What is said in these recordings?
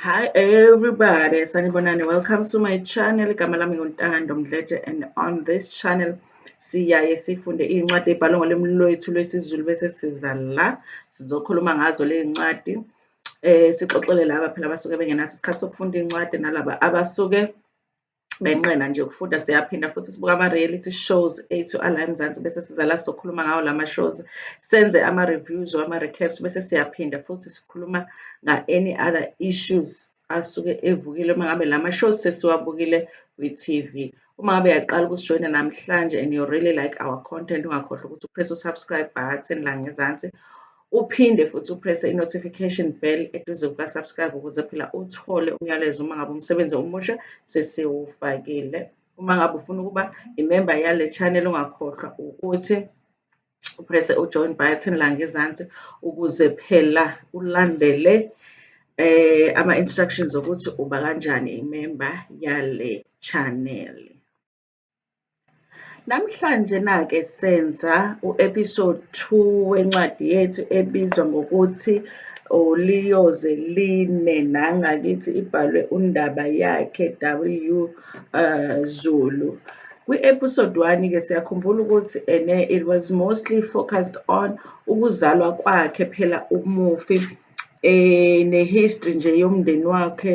Hi everybody, sanibonani. Welcome to my channel. Igama lami nguNtando Mdletshe and on this channel siyaye sifunde iy'ncwadi ey'bhalwe ngolimi lwethu lwesiZulu bese siza la sizokhuluma ngazo ley'ncwadi. Eh sixoxele laba phela abasuke bengenaso isikhathi sokufunda iy'ncwadi nalaba abasuke benqena nje ukufunda siyaphinda futhi sibuka ama-reality shows ethu ala emzansi bese siza la sokhuluma ngawo lama shows senze ama-reviews or ama-recaps bese siyaphinda futhi sikhuluma nga-any other issues asuke evukile uma ngabe lama shows sesiwabukile kwi-tv uma ngabe yaqala ukusijoyina namhlanje and you really like our content ungakhohlwa ukuthi upress u-subscribe button la ngezansi uphinde futhi uprese i-notification bell eduze kuka-subscribe ukuze phela uthole umyalezo uma ngabe umsebenzi omusha sesiwufakile uma ngabe ufuna ukuba imemba yale channel ungakhohlwa ukuthi uprese ujoin button la ngezansi ukuze phela ulandele eh ama-instructions okuthi uba kanjani imemba yale channel Namhlanje nake senza u-episode two wencwadi yethu ebizwa ngokuthi uLiyoze Line nangakithi ibhalwe uNdaba yakhe W uh, Zulu. Kwi-episode one-ke siyakhumbula ukuthi ene it was mostly focused on ukuzalwa kwakhe phela umufi um nehistory nje yomndeni wakhe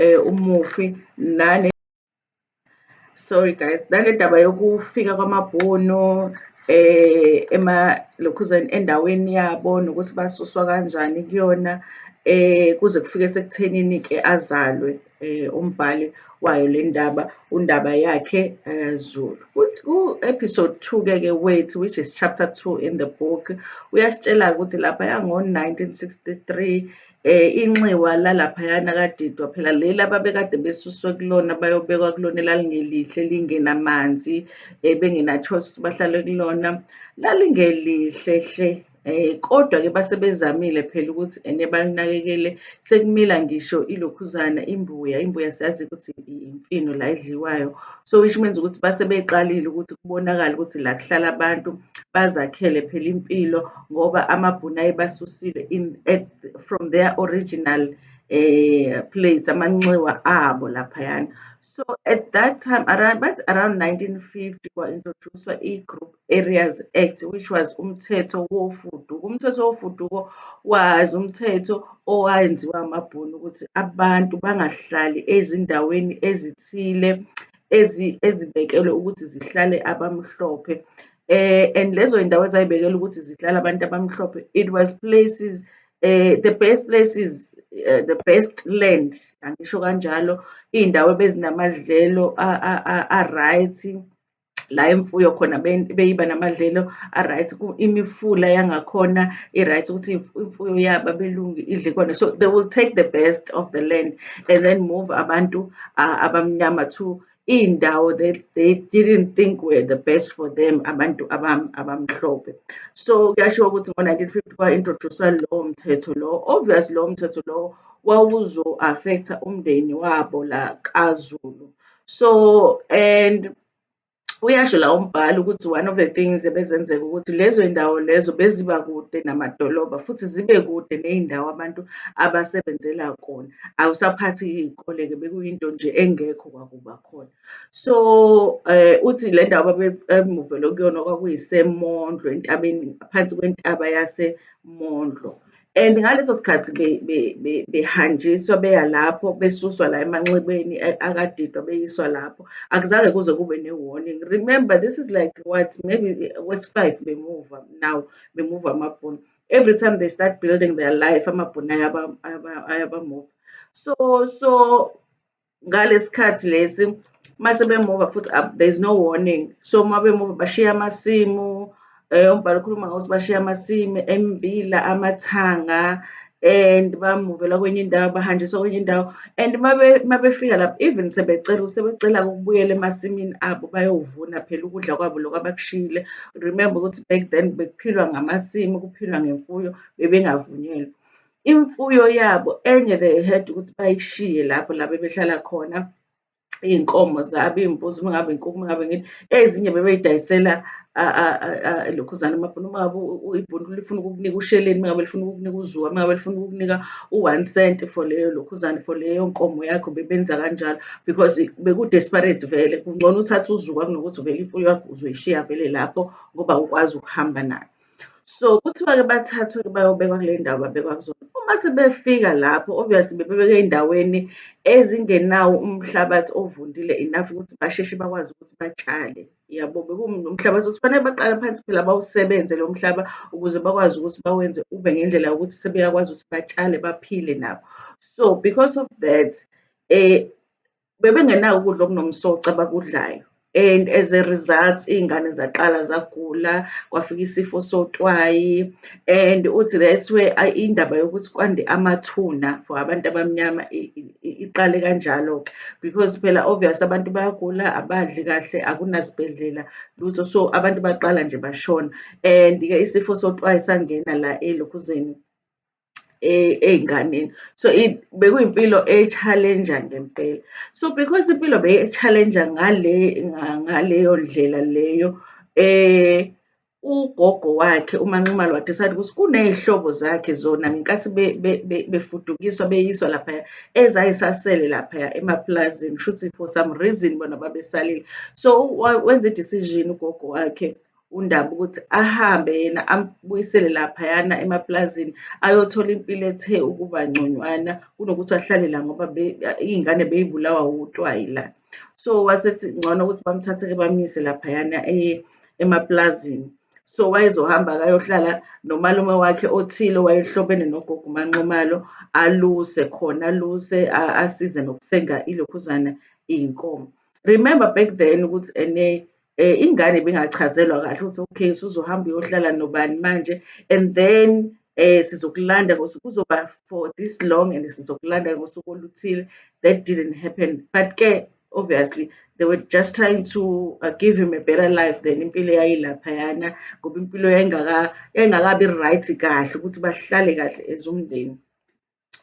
um umufi nane sorry guys nale ndaba yokufika kwamabhunu eh ema lokhuzeni endaweni yabo nokuthi basuswa kanjani kuyona eh kuze kufike sekuthenini ke azalwe eh umbhali wayo le ndaba undaba yakhe eh, Zulu ku-episode 2 ke ke wethu which is chapter 2 in the book uyasitshela ukuthi lapha yango-1963 eh inxiwa lalaphayana kadidwa phela leli ababekade besuswe kulona bayobekwa kulona elalingelihle lingenamanzi eh bengena-choice ukuthi bahlale kulona lalingelihle hle eh kodwa-ke base bezamile phela ukuthi ene balinakekele sekumila ngisho ilokhuzana imbuya imbuya siyazi ukuthi imfino la edliwayo. So which means ukuthi base beqalile ukuthi kubonakale ukuthi la kuhlala abantu bazakhele phela impilo ngoba amabhunu ayebasusile in at, from their original eh place amanxiwa abo laphayana so at that time around but around 1950 kwa introduced i group Areas Act which was umthetho wofuduko. Umthetho wofuduko was umthetho owayenziwa amabhunu ukuthi abantu bangahlali ezindaweni ezithile ezibekelwe ukuthi zihlale abamhlophe. Eh, and lezo zindawo ezayibekelwe ukuthi zihlale abantu abamhlophe it was places eh, the best places uh, the best land angisho kanjalo iy'ndawo ebezinamadlelo a-right la imfuyo khona beyiba namadlelo a-right imifula yangakhona i-right ukuthi imfuyo yabo abelungu idle kona so they will take the best of the land and then move abantu abamnyama to iy'ndawo that they didn't think were the best for them abantu abamhlophe so kuyashiwo ukuthi ngo-1950 kwa-introduce-wa lowo mthetho lowo obvious lowo mthetho lowo wawuzo-affect-a umndeni wabo la kazulu so and uyasho la umbhali ukuthi one of the things ebezenzeka ukuthi lezo iy'ndawo lezo beziba kude namadolobha futhi zibe kude ney'ndawo abantu abasebenzela kona awusaphathi iy'kole-ke bekuyinto nje engekho kwakuba khona so um uthi le ndawo babemuvele kuyona kwakuyisemondlo entabeni phansi kwentaba yasemondlo And ngaleso sikhathi behanjiswa beya lapho besuswa la emanxebeni akadidwa beyiswa lapho akuzange kuze kube ne-warning remember this is like what maybe kwesi-five bemuva now bemuva amabhunu every time they start building their life amabhunu ayabamuva so so ngalesikhathi lesi mase bemuva futhi there's no warning so uma bemuva bashiya amasimu eh, umbhalo ukhuluma ngokuthi bashiya amasimu embila amathanga and bamuvela kwenye indawo bahanjiswa kwenye indawo and uma befika lapho even sebecela sebecela ukubuyela emasimini abo bayovuna phela ukudla kwabo lokho abakushiyile remember ukuthi back then bekuphilwa ngamasimu kuphilwa ngemfuyo bebengavunyelwe imfuyo yabo enye they had ukuthi bayishiye lapho la bebehlala khona iy'nkomo zabo iy'mbuzi uma ngabe inkukhu uma ngabe ngini ezinye bebeyidayisela lokhuzana amabhunu uma ngabe ibhunu lifuna ukukunika usheleni uma ngabe lifuna ukukunika uzuwa uma ngabe lifuna ukukunika u-one cent for leyo lokhuzane for leyo nkomo yakho bebenza kanjalo because beku-desperate vele kungcono uthathe uzuwa kunokuthi vele imfuyo yakho uzoyishiya vele lapho ngoba ukwazi ukuhamba nayo So kuthiwa-ke bathathwe-ke bayobekwa kule ndawo babekwa kuzona. Uma sebefika lapho obviously bebebeke ey'ndaweni ezingenawo umhlabathi ovundile enough ukuthi basheshe bakwazi ukuthi batshale. Yabo bekuwumhlabathi ukuthi kufanele baqale phansi phela bawusebenze lo mhlaba ukuze bakwazi ukuthi bawenze ube ngendlela yokuthi sebeyakwazi ukuthi batshale baphile nabo. So because of that um bebengenako ukudla okunomsoco abakudlayo and as a result iy'ngane zaqala zagula kwafika isifo sotwayi and uthi that's where indaba yokuthi kwande amathuna for abantu abamnyama iqale kanjalo-ke because phela obvious abantu bayagula abadli kahle akunasibhedlela lutho so abantu baqala nje bashona and-ke isifo sotwayi sangena la elokhuzeni ey'nganeni. So, bekuyimpilo e-challenge-a ngempela. So, because impilo beyi-challenge-a ngale ngaleyo ndlela leyo ugogo wakhe uManxumalo wa-decide ukuthi kuney'hlobo zakhe zona ngenkathi befudukiswa beyiswa laphaya ezayisasele laphaya emapulazini, kushuthi for some reason bona babesalile. So, wenza i-decision ugogo wakhe undaba ukuthi ahambe yena ambuyisele laphayana emaplazini ayothola impilo ethe ukuba ngconywana kunokuthi ahlale la ngoba iy'ngane beyibulawa wutwayi la so wasethi ngcono ukuthi bamthathe-ke bamyise laphayana eh, emaplazini so wayezohamba akayohlala nomalume wakhe othile wayehlobene nogogo umanxumalo aluse khona aluse asize nokusenga ilokhuzana iy'nkomo remember back then ukuthi ene um ingane ibingachazelwa kahle ukuthi okay suzohamba uyohlala nobani manje and then eh sizokulanda ngosuku kuzoba for this long and sizokulanda ngosuku oluthile that didn't happen but ke obviously they were just trying to uh, give him a better life than impilo yayilaphayana ngoba impilo yayingakabi right kahle ukuthi bahlale kahle ezumndeni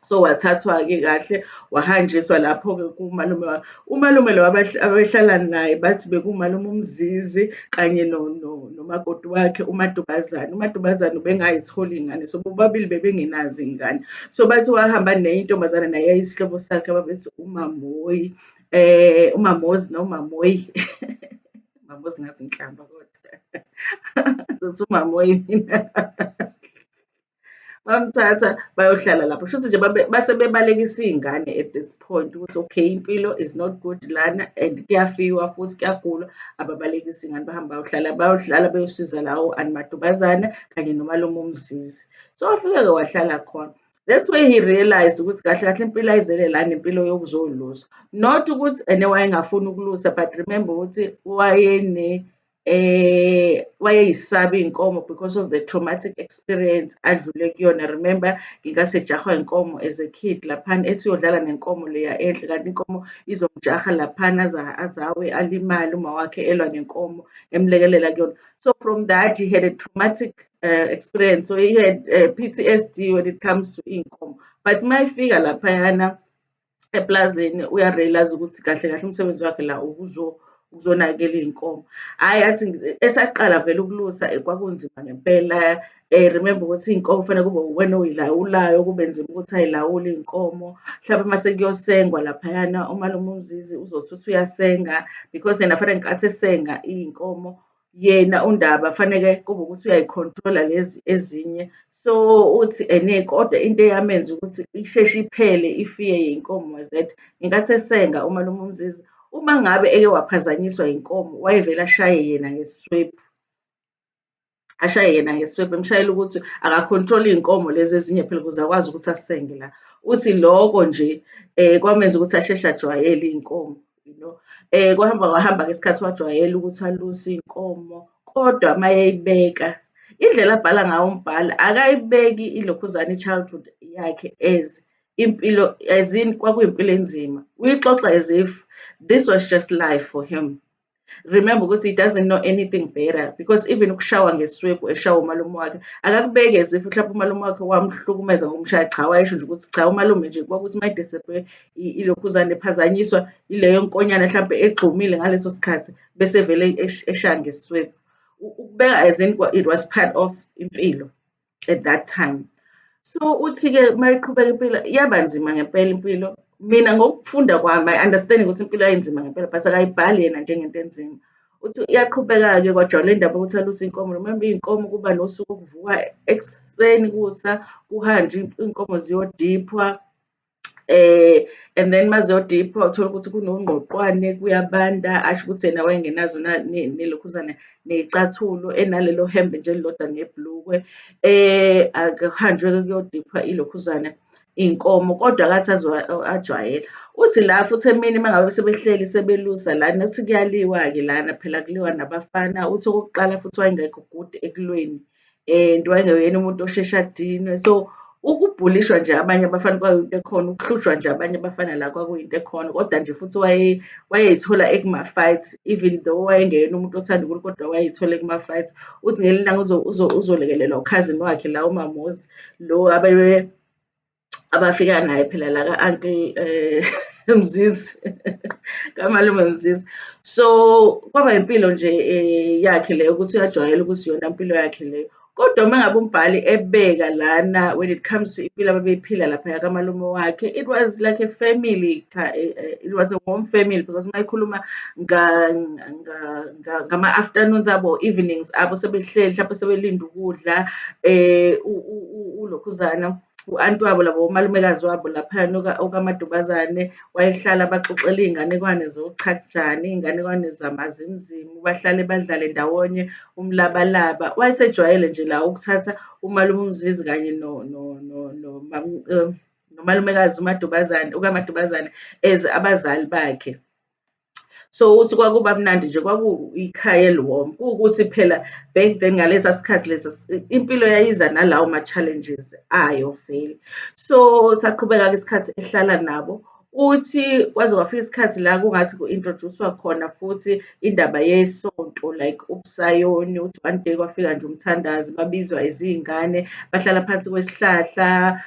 so wathathwa-ke kahle wahanjiswa lapho-ke kumalume wami umalume lo abehlala naye bathi bekumalume umzizi kanye nomakoti no, no wakhe umadubazane umadubazane ubengayitholi ingane so bobabili bebengenazi ingane so bathi wahamba nenye intombazane naye yayisihlobo sakhe babethi umamoyi eh umamozi nomamoyi mamozi ngathi nhlamba kodwa zothi umamoyi mina bamthatha bayohlala lapho shuthi nje base bebalekisa iy'ngane at this point ukuthi okay impilo is not good lana and kuyafiwa futhi kuyagulwa ababalekisa iy'ngane bahamba bayohlala bayohlala beyosiza lawo animadubazana kanye nomalume umzizi so wafike-ke wahlala khona that's where he realized ukuthi kahle kahle impilo ayizele la nempilo yokuzolusa not ukuthi ene wayengafuni ukulusa but remember ukuthi wayene eh wayeyisaba iy'nkomo because of the traumatic experience adlule kuyona remember ngingasejahwa inkomo as a kid laphana ethi uyodlala nenkomo leya enhle kanti inkomo izomjaha laphana azawe alimale uma wakhe elwa nenkomo emlekelela kuyona so from that he had a traumatic uh, experience so he had uh, eh, ptsd when it comes to iy'nkomo but uma efika laphayana eplazini uyarealize ukuthi kahle kahle umsebenzi wakhe la ukuzonakela iy'nkomo. Hhayi athi esaqala vele ukulusa eh, kwakunzima ngempela um remember ukuthi iy'nkomo kufanele kube uwena oyilawulayo kube nzima ukuthi ayilawule iy'nkomo. Mhlawumbe uma sekuyosengwa laphayana umalume uMzizi uzothi uthi uyasenga because yena fanele ngenkathi esenga iy'nkomo yena uNdaba faneke kube ukuthi uyayikhontrola lezi ezinye so uthi ene kodwa into eyamenza ukuthi isheshe iphele ifiye yenkomo was that ngenkathi esenga umalume uMzizi uma ngabe eke waphazanyiswa yinkomo wayevele ashaye yena ngeswebhu ashaye yena ngeswebhu emshayela ukuthi akakhontrole iy'nkomo lezi ezinye phela ukuze akwazi ukuthi asenge la uthi loko nje um kwamenza ukuthi asheshe ajwayele iy'nkomo you know eh kwahamba kwahamba ngesikhathi wajwayela ukuthi aluse inkomo kodwa mayeyibeka indlela abhala ngawo umbhali akayibeki ilokhuzane i-childhood yakhe as impilo as in kwakuyimpilo enzima uyixoxa as if this was just life for him remember ukuthi he doesn't know anything better because even ukushawa ngeswebu eshawa umalume wakhe akakubeke as if mhlawumbe umalume wakhe wamhlukumeza ngomshaya cha wayesho nje ukuthi cha umalume nje kwakuthi uma ilokhuzane ephazanyiswa ileyo nkonyane mhlawumbe egxumile ngaleso sikhathi bese vele eshaya ngeswebu ukubeka as in it was part of impilo at that time so uthi-ke uma iqhubeka impilo iyaba nzima ngempela impilo mina ngokufunda kwami i understand ukuthi impilo yayinzima ngempela but akayibhali yena njengento enzima uthi iyaqhubeka-ke kwajwayela indaba ukuthi aluse inkomo remember iy'nkomo kuba nosuku okuvuka ekuseni kusa kuhanjwe iy'nkomo ziyodiphwa and then mazodipha uthole ukuthi kunongqoqwane kuyabanda asho ukuthi yena wayengenazo nelokhuzana neyicathulo enalelo hembe nje elilodwa neblukwe eh akuhanjwe kuyodipha ilokhuzana iy'nkomo kodwa akathi ajwayela uthi la futhi emini uma ngabe sebehleli sebelusa lana uthi kuyaliwa-ke lana phela kuliwa nabafana uthi okokuqala futhi wayengekho good ekulweni. and wayengeyena umuntu osheshe adinwe so ukubhulishwa nje abanye abafana kwakuyinto ekhona ukuhlushwa nje abanye abafana la kwakuyinto ekhona kodwa nje futhi wayeyithola ekuma-fight even though wayengeyena umuntu othanda unkulu kodwa wayeyithola ekuma-fight uthi ngelinye ilanga uzolekelelwa ukhazini wakhe la umamozi lo abafika naye phela la ka-anti um eh, mzizi kamalume mzizi so kwaba impilo nje um yakhe leyo ukuthi uyajwayela ukuthi yona impilo yakhe leyo kodwa uma ngabe umbhali ebeka lana when it comes to impilo ababeyiphila laphaya kamalume wakhe it was like a family eh, eh, it was a warm family because uma ikhuluma ngama-afternoons abo evenings abo sebehleli mhlawumpe sebelinde ukudla um ulokhuzana u-anti wabo labo umalumekazi wabo laphayana okamadubazane wayehlala baxoxela iy'nganekwane zochakujani iy'nganekwane zamazimzimu bahlale badlale ndawonye umlabalaba wayesejwayele nje la ukuthatha umalume umzizi kanye no, no, no, no, no, um, nomalumekazi umadubazane ukamadubazane as abazali bakhe so ukuthi kwakuba mnandi nje kwakuyikhaya eliwom kuwukuthi phela back then ngalesa sikhathi lesa impilo yayiza nalawo ma-challenges ayo vele so saqhubeka-ke isikhathi ehlala nabo uthi kwaze kwafika isikhathi la kungathi ku-introduce-wa khona futhi indaba yesonto like ubusayoni uthi one day kwafika nje umthandazi babizwa izingane bahlala phansi kwesihlahla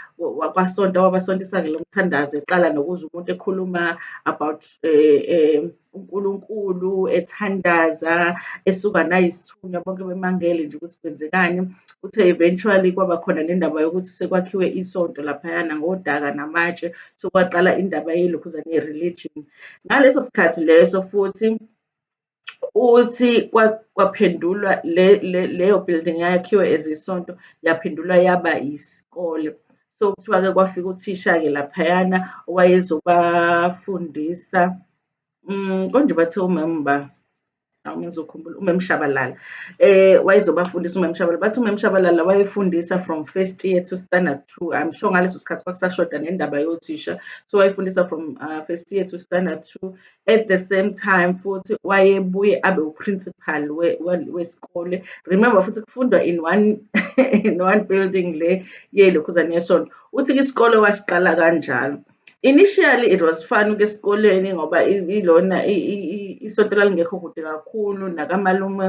kwasonta wabasontisa-ke lo mthandazi eqala nokuza umuntu ekhuluma about eh, eh, uNkulunkulu ethandaza esuka nayisithunywa bonke bemangele nje ukuthi kwenzekani uthe eventually kwaba khona nendaba yokuthi sekwakhiwe isonto laphayana ngodaka namatshe sokwaqala indaba yelokhuzane ye-religion ngaleso sikhathi leso futhi Uthi kwaphendulwa leyo building eyakhiwe as isonto yaphendulwa yaba yisikole. So kuthiwa-ke kwafika uthisha-ke laphayana owayezobafundisa um konje bathe umemba awu ngizokhumbula umem Shabalala eh wayezobafundisa umem Shabalala bathi umem Shabalala wayefundisa from first year to standard two I'm sure ngaleso sikhathi kwakusashoda nendaba yothisha so wayefundisa from uh, first year to standard two at the same time futhi wayebuye abe uprincipal wesikole remember futhi kufundwa in one in one building le yelokhuzane yesonto uthi isikole wasiqala kanjalo initially it was fun ke esikoleni ngoba ilona isonto lalingekho kude kakhulu nakamalume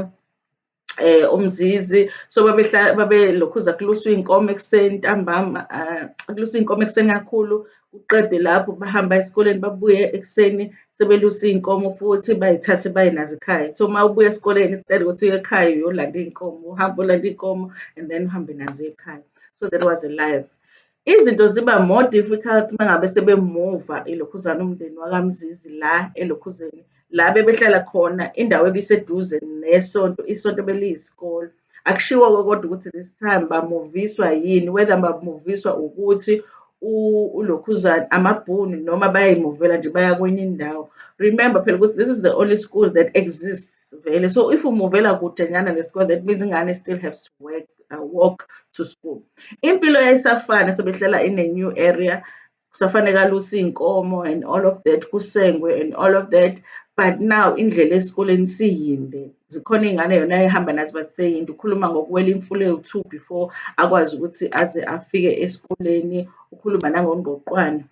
eh umzizi so babehla babelokhuza kuluswa inkomo ekuseni ntambama eh, kuluswa inkomo ekuseni kakhulu uqede lapho bahamba esikoleni babuye ekuseni sebelusa iy'nkomo futhi bayithathe baye nazo ekhaya so uma ubuya esikoleni instead ukuthi uye ekhaya uyolanda iy'nkomo uhambe olanda iy'nkomo and then uhambe nazo ekhaya so that was a life Izinto ziba more difficult mangabe sebemuva elokhuzana umndeni wakamzizi la elokhuzeni la bebehlala khona indawo ebiseduze nesonto isonto beliyisikole akushiwo-ke kodwa ukuthi this time bamuviswa yini whether bamuviswa ukuthi ulokhuzana amabhunu noma bayayimuvela nje baya kwenye indawo remember phela ukuthi this is the only school that exists vele so if umuvela kude nyana nesikole that means ingane still has to work I walk to school impilo yayisafana sebehlala in a new area kusafanele aluse iy'nkomo and all of that kusengwe and all of that but now indlela esikoleni siyinde zikhona iy'ngane yona ehamba nazo but seyinde ukhuluma ngokuwela imfula ewu-two before akwazi ukuthi aze afike esikoleni ukhuluma nangongqoqwane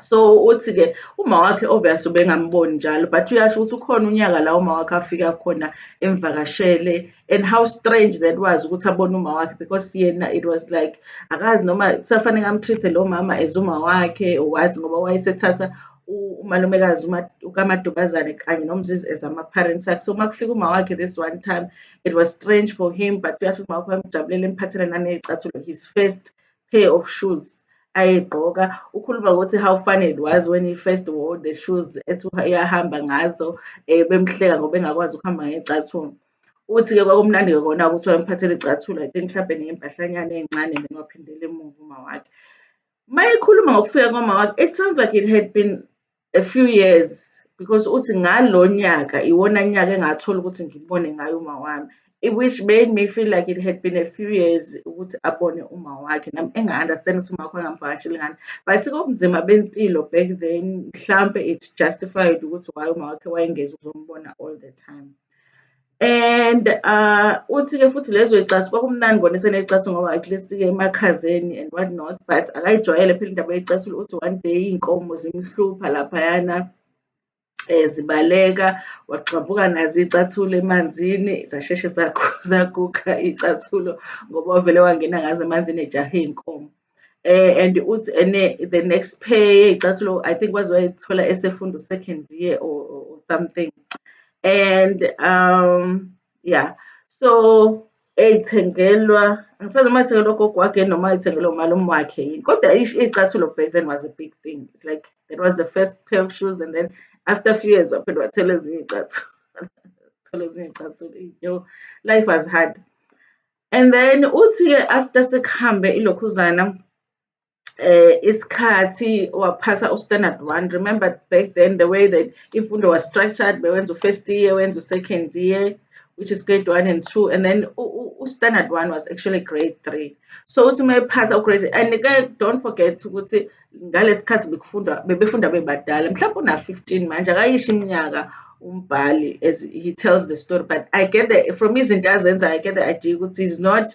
so uthi-ke uma wakhe obvious ubengamboni njalo but uyasho ukuthi ukhona unyaka la uma wakhe afika khona emvakashele and how strange that was ukuthi abone uma wakhe because yena it was like akazi noma kusafanele amtreat-e lo mama as uma wakhe or what ngoba wayesethatha umalumekazi ukamadubazane kanye nomzizi as ama-parents akhe so uma kufika uma wakhe this one time it was strange for him but uyasho ukuthi uma wakhe wamjabulela emphathela naney'cathulo his first pair of shoes ayegqoka ukhuluma ngokuthi how funny it was when he first wore the shoes ethi uyahamba ngazo um bemhleka ngoba engakwazi ukuhamba ngey'cathulo uthi-ke kwakumnandi-ke kona ukuthi wayemphathela icathulo i think mhlawumbe ney'mpahlanyana ey'ncane then waphindela emuva umawakhe uma ekhuluma ngokufika kwamawakhe it sounds like it had been a few years because uthi ngalo nyaka iwona nyaka engathola ukuthi ngibone ngayo uma wami which made me feel like it had been a few years ukuthi abone uma wakhe nami enga-understand ukuthi uma wakho engamvakasheli ngani but kobunzima bempilo back then mhlampe it justified ukuthi why uma wakhe wayengeza uzombona all the time And uh, uthi-ke futhi lezo icasi kwakumnandi kona esenecasi ngoba at least-ke emakhazeni and what not but akayijwayele phela indaba yecasi uthi one day iy'nkomo zimhlupha laphayana um zibaleka wagxabuka nazo iy'cathulo emanzini zasheshe zaguga iy'cathulo ngoba wavele wangena ngazo emanzini ejahe iy'nkomo. eh, and uthi ene the next pay icathulo i think waze wayithola esefunda second year or, or something and um yeah so eyithengelwa angisazi noma ithengelwa gogo wakhe noma ithengelwa umalume wakhe yini kodwa iy'cathulo back then was a big thing it's like that was the first pair of shoes and then after a few years waphinde wathela ezinye iy'cathulo thola ezinye iy'cathulo yo life was hard And then uthi-ke after sekuhambe ilokhuzana eh isikhathi waphasa u-standard one remember back then the way that imfundo was structured bewenza u-first year wenza u-second year which is grade one and two and then u-standard one was actually grade three so uthi uma ephasa ugrade and-ke don't forget ukuthi ngalesikhathi bekufundwa bebefunda bebadala mhlawumbe una 15 manje akayisho iminyaka umbhali as he tells the story but i get the from izinto azenza i get the idea ukuthi is not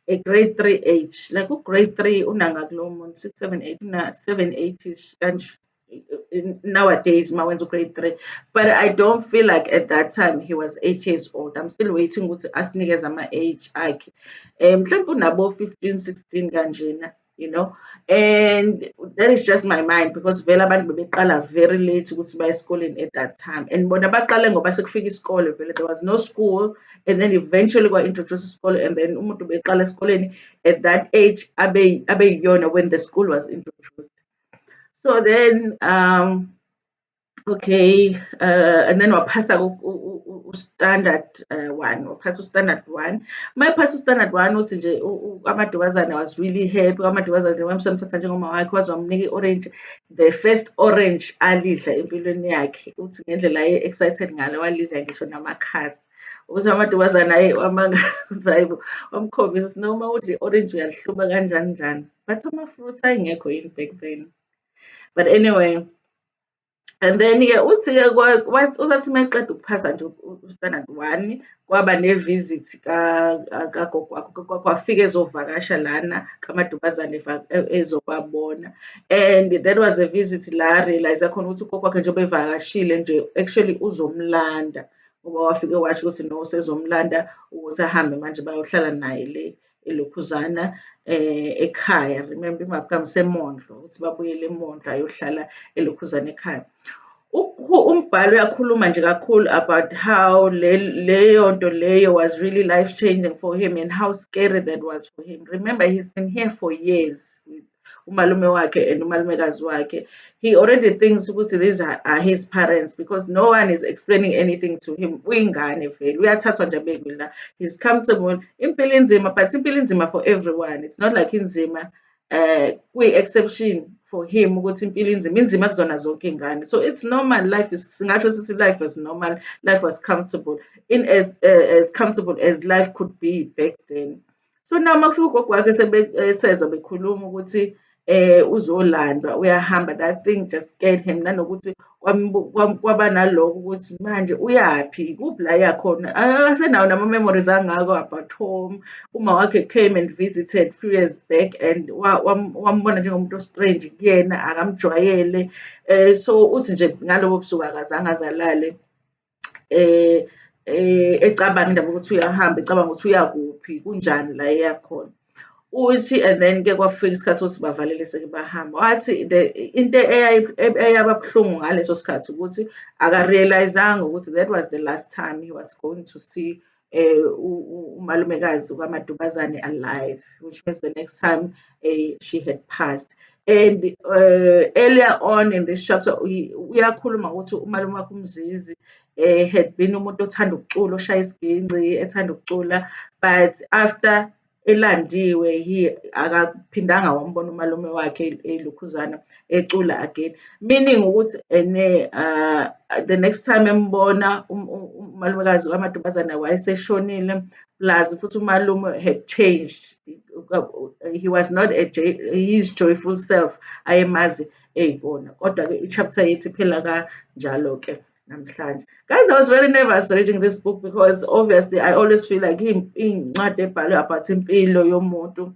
a grade 3 age like u grade 3 unanga kulo muntu 6 7 8 una 7 8 kanje nowadays uma wenza ugrade three but i don't feel like at that time he was eight years old i'm still waiting ukuthi asinikeze ama-age akhe um mhlawumpe unabo-fifteen sixteen kanjena you know and that is just my mind because vele abantu bebeqala very late ukuthi baye esikoleni at that time and bona baqale ngoba sekufika isikole vele there was no school and then eventually kwa-introduce isikole and then umuntu beqala esikoleni at that age abeyiyona when the school was introduced so then um Okay, uh, and then waphasa u-standard uh, one, waphasa u-standard one. Uma ephasa u-standard one uthi nje amadubazane was really happy, amadubazane wamsamthatha njengoma wakhe waze wamnika i-orange. The first orange alidla empilweni yakhe uthi ngendlela aye-excited ngalo walidla ngisho namakhasi. Ukuthi amadubazane aye wamangaza yibo wamkhombisa ukuthi noma udle i-orange uyalihluba kanjani njani. But ama-fruit ayengekho yini back then. But anyway, and then-ke uthi-ke kwathi uma eqeda ukuphasa nje u-standard one kwaba ne-visit kagogo wakho kwafika ezovakasha lana kamadubazane e, ezobabona and that was a visit la realize khona ukuthi ugogo wakhe njengoba evakashile nje actually uzomlanda ngoba wafike washo ukuthi no sezomlanda ukuthi ahambe manje bayohlala naye le elokhuzana eh ekhaya remember imabukami semondlo ukuthi babuyele emondlo ayohlala elokhuzana ekhaya umbhalo uyakhuluma nje kakhulu about how leyo nto leyo was really life changing for him and how scary that was for him remember he's been here for years with umalume wakhe and umalumekazi wakhe he already thinks ukuthi these are, are his parents because no one is explaining anything to him uyingane vele uyathathwa nje abekwe la he's comfortable impilo inzima but impilo inzima for everyone it's not like inzima uh kwi-exception for him ukuthi impilo inzima inzima kuzona zonke iy'ngane so it's normal life is singasho sithi life was normal life was comfortable in as, uh, as comfortable as life could be back then So now uma kufika ugogo wakhe sebesezwa bekhuluma ukuthi eh uzolandwa uyahamba that thing just scared him nanokuthi kwaba naloko ukuthi manje uyaphi kuphi la yakhona akasenawo nama-memories angako about home uma wakhe came and visited few years back and wambona njengomuntu ostrange kuyena akamjwayele um so uthi nje ngalobo busuku akazange azalale eh, eh ecabanga indaba ukuthi uyahamba ecabanga ukuthi uyakuphi kunjani la eyakhona uthi and then ke kwafika isikhathi ukuthi bavalele seke bahamba wathi into eyababuhlungu ngaleso sikhathi ukuthi akarealizanga ukuthi that was the last time he was going to see eh, umalumekazi ukamadubazane alive which means the next time eh, she had passed and uh, earlier on in this chapter uyakhuluma ukuthi umalume wakho umzizi eh, had been umuntu othanda ukucula oshaya isiginci ethanda ukucula but after elandiwe he akaphindanga wambona umalume wakhe elukhuzana ecula again meaning ukuthi ene uh, the next time embona um, um, umalumekazi kamadubazana wayeseshonile plus futhi umalume had changed he was not a his joyful self ayemazi eyibona kodwa-ke i-chapter yethi phela kanjalo-ke namhlanje guys i was very nervous reading this book because obviously i always feel like iy'ncwadi ebhalwe about impilo yomuntu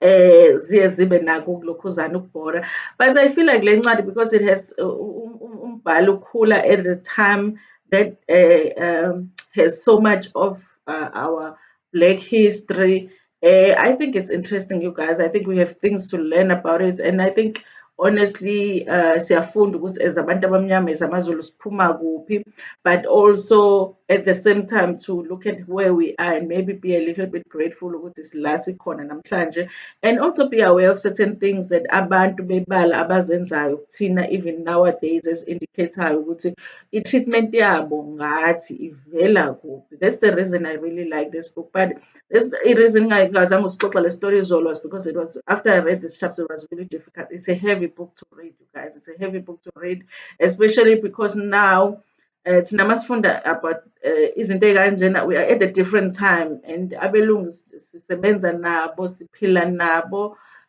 eh ziye zibe nako ukulokhuzana ukubhora but i feel like le ncwadi because it has uh, um, um, umbhalo ukhula at the time that uh, um, has so much of uh, our black history uh, i think it's interesting you guys i think we have things to learn about it and i think honestly uh, siyafunda ukuthi as abantu abamnyama as amazulu siphuma kuphi but also at the same time to look at where we are and maybe be a little bit grateful ukuthi sila sikhona namhlanje and also be aware of certain things that abantu bebala abazenzayo thina even nowadays as indicathayo ukuthi i-treatment yabo ngathi ivela kuphi that's the reason i really like this book but this i-reason ngingazange usixoxa le story izolo was because it was after i read this chapter it was really difficult it's a heavy book to read you guys it's a heavy book to read especially because now uh, thina masifunda about uh, izinto ey'kanjena we are at a different time and abelungu sisebenza nabo siphila nabo